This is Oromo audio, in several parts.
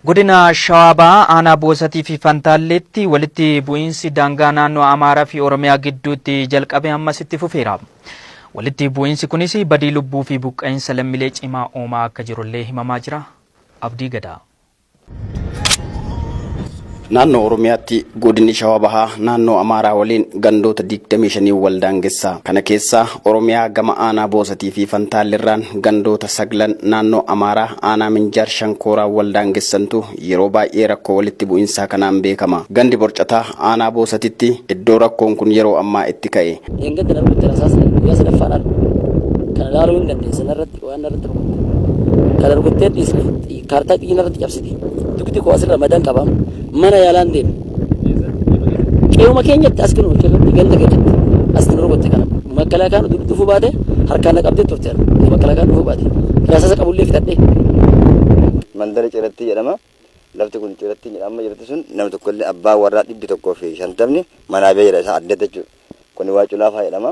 Godina Shawaa Bahaa aanaa Boosatii fi Fantaalleetti walitti bu'iinsi daangaa naannoo Amaaraa fi Oromiyaa gidduutti jalqabe ammas itti fufeera. Walitti bu'iinsi kunis badii lubbuu fi buqqa'insa lammilee cimaa uumaa akka jirullee himamaa jira. Abdii Gadaa. Naannoo Oromiyaatti Godinni Shawaa Bahaa Naannoo Amaaraa waliin gandoota 25 wal daangessa. Kana keessaa Oromiyaa gama Aanaa Boosatii fi Fantaallirraan gandoota saglan Naannoo Amaaraa Aanaa Minjaar Shankooraa wal daangessantu yeroo baay'ee rakkoo walitti bu'insaa kanaan beekama. Gandi Borcataa Aanaa Boosatitti iddoo rakkoon kun yeroo ammaa itti ka'e. Dheengadda darbetti rasaasni guyyaa sadaffaadhaan kan ilaaluu ni dandeessan irratti waan narratti rukutte kana rukuttee dhiisne kaartaa xiyyi narratti cabsite dugdi koo asirra madan qaba mana yaalaan deeme qe'uma keenyatti as kinu irratti ganda keenyatti as nu rukutte kana makalaakaan dugdi dhufuu baate harkaan na qabdee turte makalaakaan dhufuu baate raasasa qabullee fixadhee mandara ciratti jedhama. Lafti kun ciratti jedhama jirti sun nama tokkollee abbaa warraa dhibbi tokkoo fi shantamni manaa bee jedha isaa adda jechuudha. Kuni waa culaafaa jedhama.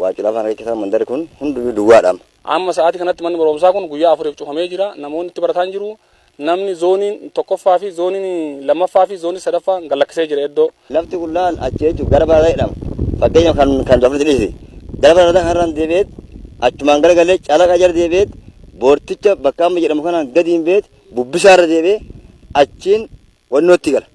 Waacula afaan kee keessa mandari kun hundinuu duwwaadha. Amma sa'aatii kanatti manni barumsaa kun guyyaa afuriif cufamee jira. Namoonni itti barataan jiru. Namni zooniin tokkoffaa fi zooniin lammaffaa fi zooniin sadaffaa gad lakkisee jira iddoo. Lafti qullaan achi jechuun gara baradaa jedhama. Fakkeenyaaf kan kan dafniti dhiisi. Gara baradaa kanarraan deebi'eet achumaan gara galee calaqa jala deebi'eet boorticha bakka amma jedhamu kanaan gadiin beet bubbisaarra deebi'ee achiin wannootti gala.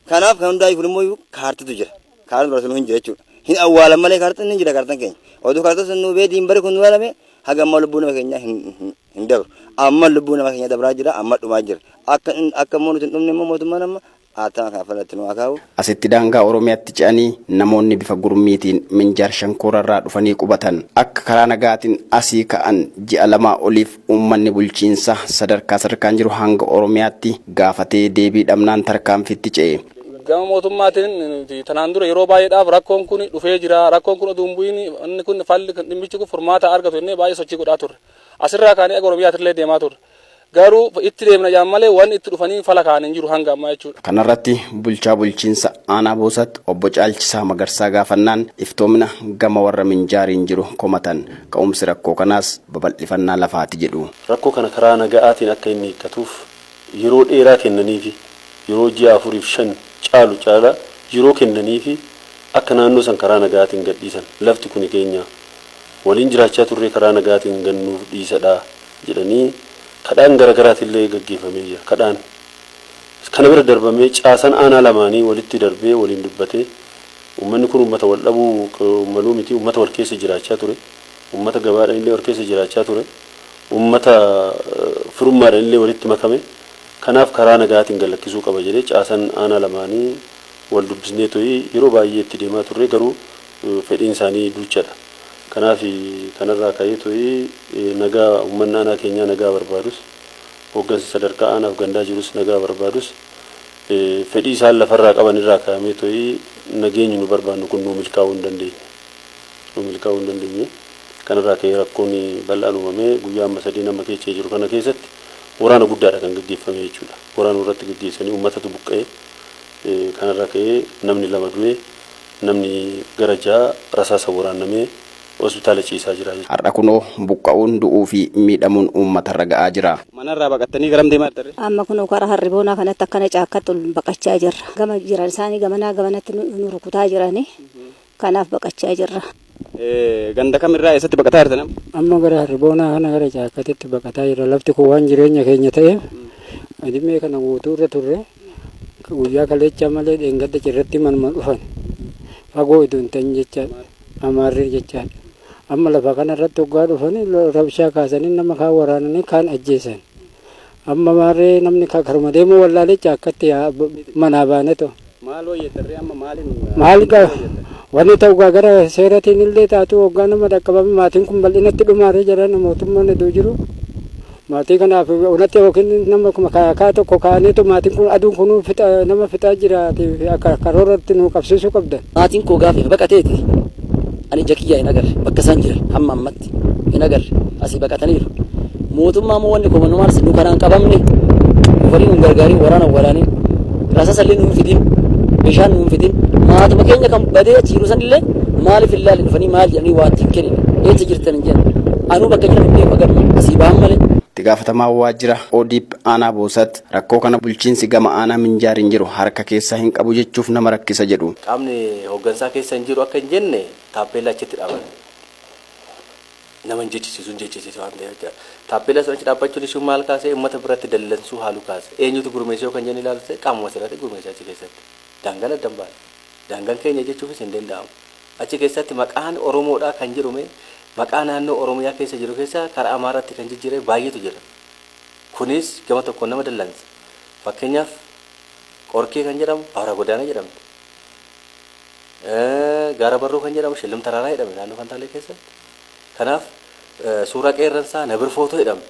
Kanaaf kan hundaa'e kun immoo kaartitu jira. Kaartiin barreessu hin jira jechuudha. Hin awwaalan malee kaartiin hin jira kaartiin keenya. Oduu kaartiin sun nu bee diinbari kun nu alame haga amma lubbuu nama keenyaa hin hin dabru. Amma lubbuu nama keenyaa dabraa jira amma dhumaa jira. Akka akka immoo nuti hin dhumne immoo mootummaan amma haataa kan falatti nu haa kaa'u. Asitti daangaa Oromiyaatti ce'anii namoonni bifa gurmiitiin Minjaar Shankoorarraa dhufanii qubatan akka karaa nagaatiin asii ka'an ji'a lamaa oliif Uummanni bulchiinsa sadarkaa sadarkaan jiru hanga Oromiyaatti gaafatee deebii dhabnaan tarkaanfiitti ce'e. Gama mootummaatiin nuti tanaan dura yeroo baay'eedhaaf rakkoon kun dhufee jira, rakkoon kun oduu hin bu'iin inni kun falli dhimmichi kun furmaata haa argatu jennee baay'ee sochii godhaa turre. Asirraa kaanee aga Oromiyaatillee deemaa turre. Garuu itti deemna jedhan malee wanni itti dhufanii fala kaa'an hin jiru hanga ammaa jechuudha. Kanarratti bulchaa bulchiinsa aanaa Boosat obbo Caalchisaa Magarsaa gaafannaan iftoomina gama warra Minjaariin jiru komatan. Ka'umsi rakkoo kanaas babal'ifannaa lafaati jedhu. Rakkoo kana karaa naga'aatiin akka inni hiikkatuuf yeroo dheeraa kennaniifi yeroo ji'a afuriif shan caalu caala yeroo kennaniifi akka naannoo san karaa naga'aatiin gadhiisan lafti kuni keenya waliin jiraachaa turree karaa naga'aatiin gad nuuf dhiisadha jedhanii kadhaan garagaraatillee gaggeeffamee jira. Kadhaan kana bira darbamee caasan aanaa lamaanii walitti darbee waliin dubbatee Ummanni kun ummata wal dhabuu maluu miti, ummata wal keessa jiraachaa ture, ummata gabaadhan illee wal keessa jiraachaa ture, ummata firummaadhan illee walitti makame, kanaaf karaa nagaatiin gad lakkisuu qaba jedhee caasan aanaa lamaanii wal dubbisneetoi yeroo baay'ee itti deemaa turree garuu fedhiin isaanii duuchadha. Kanaaf kanarraa ka'eetoi nagaa ummanni aanaa keenyaa nagaa barbaadus, hoggansi sadarkaa aanaaf gandaa jirus nagaa barbaadus fedhii isaan lafarraa qaban irraa kaa'amee to'i nageenyi nu barbaannu kun nuu milkaa'uu hin dandeenye. Nuu milkaa'uu hin dandeenye. Kanarraa ka'ee rakkoon bal'aan uumamee guyyaa amma sadeen amma keecha jiru kana keessatti waraana guddaadha kan gaggeeffamee jechuudha. Waraana nurratti gaggeessanii uummatatu buqqa'e. Kanarraa ka'ee namni lama du'e, namni gara ja'a rasaasa waraannamee hospitaala ciisaa jira jechuudha. Har'a kunoo buqqa'uun, du'uu fi miidhamuun uummatarra ga'aa jira. Manarraa baqattanii garam deemaa jirtan ree? Amma kunoo karaa Harriboonaa kanatti akkana caakkatti ol baqachaa jirra. Gama jiran isaanii gamanaa gamanatti nu rukutaa jirani. Kanaaf baqachaa jirra. Ganda kamirraa eessatti baqataa jirtan amma? Amma gara Harriboonaa kana gara caakkatitti baqataa jirra. Lafti kun waan jireenya keenya ta'eef adimee kana guutuu irra turre guyyaa kaleechaa malee dheengadda cirratti manuma dhufan fagoo idoo hin ta'in jecha. Amaarri jechaan amma lafa kana irratti hoggaa dhufanii rabshaa kaasanii nama kaan waraananii kaan ajjeesan. Amma maarree namni ka- karuma deemuu wallaalee caakkatti yaa- b- manaa baane too. Maal hojjetarree amma maaliin Maal gaa hojjetan? wanni ta'u gaa gara seeratiin illee taatu hoggaa nama dhaqqabame maatiin kun bal'inatti dhumaaree jira mootummaan iddoo jiru. Maatii kanaaf onatti yookiin nama kuma ka- kaa tokko kaaneetu maatiin kun aduun kun fixa- nama fixaa jiraati fi akka karooratti nu qabsiisuu qabdan. Maatiin koo gaafa baqateeti ani ija kiyyaa hin agarre bakka isaan jiran hamma ammatti hin agarre asii baqataniiru. Mootummaa moo wanni koo manumaarsi nu kanaan qabamne dhufanii nu hin gargaarin waraana hin waraanin Rasasallee nuun fidin, bishaan nuun fidin, maatuma keenya kan badee achi jiru sanillee maaliif hin laalle dhufanii maal jedhanii waa ittiin kenine eessa jirtan hin jedhan. Anuu bakka jiran hin beeku agarma asii ba'an malee. Itti gaafatamaa waajjira ODP aanaa Boosat rakkoo kana bulchiinsi gama aanaa Minjaariin jiru harka keessaa hin qabu jechuuf nama rakkisa jedhu. Qaamni hoggansaa keessa hin jiru akka hin jenne taappeellaa achitti dhaaban. nama hin jechisiisu, hin jechisiisu waan ta'eef jechaadha. Taappeellaa sana achi dhaabbachuun ishuu maal kaase? Uummata biratti dallansuu haaluu kaase. Eenyutu gurmeesse yoo kan jenne ilaaltee qaamuma sirati gurmeesse achi keessatti. Daangaan adda hin baane. Daangaan keenya jechuufis hin danda'amu. Achi keessatti maqaan Oromoodhaa kan jedhu mee maqaa naannoo Oromiyaa keessa jiru keessaa karaa Amaaraatti kan jijjiirame baay'eetu jira. Kunis gama tokkoon nama dallansa. Fakkeenyaaf Qorkee kan jedhamu Awraa Godaanaa jedhamti. Gaara Barruu kan jedhamu Shillim Taraaraa jedhame naannoo Fantaalee keessatti. Kanaaf suuraa qeerransaa Nabir Footoo jedhame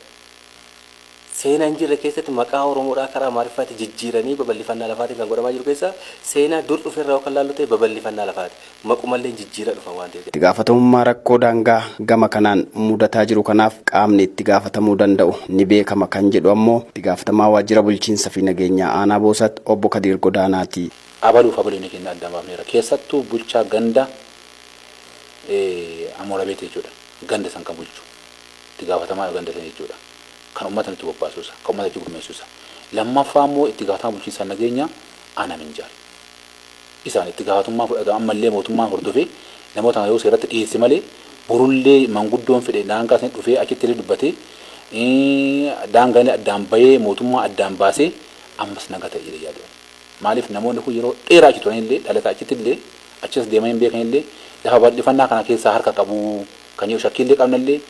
seenaa hin jirre keessatti maqaa Oromoodhaa karaa Amaariffaatti jijjiiranii babal'ifannaa lafaatiin kan godhamaa jiru keessaa seenaa dur dhufe irraa yoo kan laallu ta'e babal'ifannaa lafaati. Maqumallee jijjiiraa dhufan waan ta'eef. Itti gaafatamummaa rakkoo daangaa gama kanaan mudataa jiru kanaaf qaamni itti gaafatamuu danda'u ni beekama kan jedhu ammoo itti gaafatamaa waajjira bulchiinsa fi nageenyaa aanaa Boosat obbo Kadiir Godaanaati. Abaluuf abaliin keenya addaan baafneerra. Keessattuu bulchaa ganda Amoorabeet jechuudha. Ganda san kan bulchu. Itti gaafatamaa ganda sanii jechuudha. Kan ummata nutti bobbaasuu isaa. Kan ummata achi gurmeessuu isaa. Lammaffaa immoo itti gaafatamaa bulchiinsa nageenyaa Aanaa Minjaar. Isaan itti gaafatummaa fudhata ammallee mootummaan hordofee namoota kana yoo seeratti dhiyeesse malee borullee manguddoon fedhe daangaa sanii dhufee achitti illee dubbatee daangaan illee addaan bahee mootummaa addaan baasee ammas naga ta'a jedhee yaadu ani. Maaliif namoonni kun yeroo dheeraa achi turanillee, dhalataa achittillee, achii as deemanii hin beekanillee lafa bal'ifannaa kana keessaa harka qabu kan jedhu shakkiillee qabnallee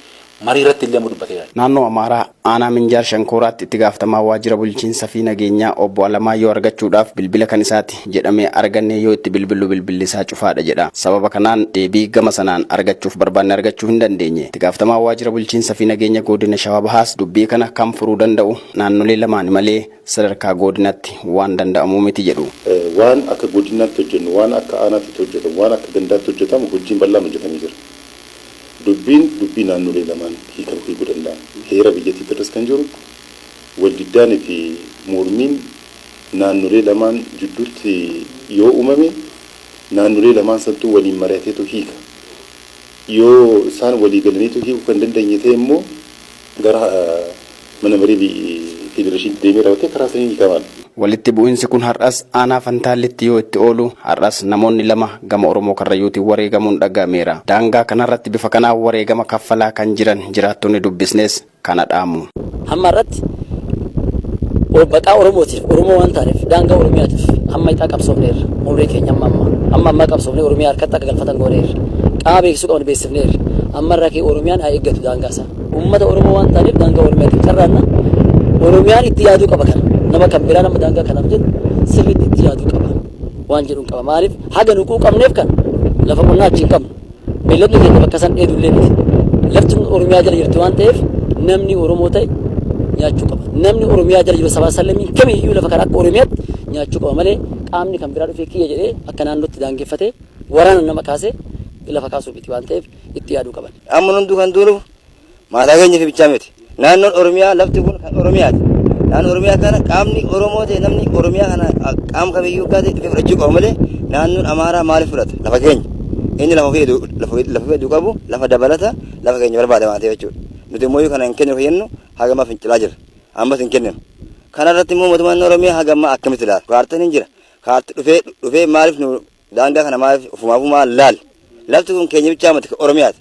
mariirrattillee ammoo dubbateera. Naannoo Amaaraa aanaa Minjaar Shankooraatti itti gaafatamaa waajjira bulchiinsa fi nageenyaa obbo Alamaayyoo argachuudhaaf bilbila kan isaati jedhamee arganne yoo itti bilbillu bilbilli isaa cufaadha jedha. Sababa kanaan deebii gama sanaan argachuuf barbaanne argachuu hin dandeenye. Itti gaafatamaan waajjira bulchiinsa fi nageenya goodina Shawaa Bahaas dubbii kana kan furuu danda'u naannolee lamaani malee sadarkaa goodinatti waan danda'amuu miti jedhu. Waan akka godinnaatti hojjennu, waan akka aanaatitti hojjetamu, waan akka gandaatti hojjetamu hojjiin bal'aan hojjetamee jira. Dubbiin dubbii naannolee lamaan hiikan hiikuu danda'an. Heera biyyattiitti irras kan jiru waldiddaani fi mormiin naannolee lamaan judduutti yoo uumame naannolee lamaan santuu waliin mari'ateetu hiika. Yoo isaan walii galaniitu hiikuu kan dandeenye ta'e immoo, gara mana marii federeeshinii deemee raawwatee karaa saniin hiikamaan. Walitti bu'insi kun har'as aanaa Fantaallitti yoo itti oolu, har'as namoonni lama gama Oromoo Karrayyuutiin wareegamuun dhaga'ameera. Daangaa kanarratti bifa kanaan wareegama kaffalaa kan jiran jiraattonni dubbisnes kana dhaamu. Hamma har'atti maqaa Oromootiif, Oromoo waan taaneef, daangaa Oromiyaatiif hamma hixaa qabsoofneerra. Umrii keenya hamma ammaa. Hamma ammaa qabsoofnee Oromiyaa harkatti akka galfatan gooneerra. Qaama beeksisuu qabnu beeksifneerra. Ammarraa ka'ee Oromiyaan haa eeggatu daangaasaa. Uummata Oromoo waan taaneef daangaa Oromiyaatiin carraanna. Oromiyaan itti yaaduu qaba kana. Nama kan biraa nama daangaa kanaaf jedhu sirriitti itti yaaduu qaba. Waan jedhuun qaba. Maaliif haga nu quuqamneef kan lafa qonnaa achi hin qabnu. Beelladni keenya bakka san dheedu illee miti. Lafti Oromiyaa jala jirti waan ta'eef namni Oromoo ta'e nyaachuu qaba. Namni Oromiyaa jala jiru sabaa sallamii kamiyyuu lafa kana akka Oromiyaatti nyaachuu qaba malee qaamni kan biraa dhufee kiyya jedhee akka naannootti daangeffatee waraana nama kaasee lafa kaasuu miti waan ta'eef itti yaaduu qaban. Amma hunduu kan duulu maataa keenya fi bichaa miti. Naannoon Oromiyaa lafti kun kan Oromiyaati. Naannoo Oromiyaa kana qaamni Oromoo ta'e namni Oromiyaa kana qaama kamiyyuu gaate dhufee fudhachuu qaba malee naannoon Amaaraa maaliif fudhata? Lafa keenya. Inni lafa ofii hedduu lafa ofii lafa ofii hedduu qabu lafa dabalata lafa keenya barbaada waan ta'eef jechuudha. Nuti immoo yoo kana hin kennu kennu haga ammaa fincilaa jira. Ammas hin kenninu. Kana irratti immoo mootummaan Oromiyaa haga ammaa akkamitti ilaala? Kaartaan hin jira. Kaarti dhufee dhufee maaliif nu Daangaa kana maaliif ofumaafuu maal laal? Lafti kun keenya bichaa miti kan Oromiyaati.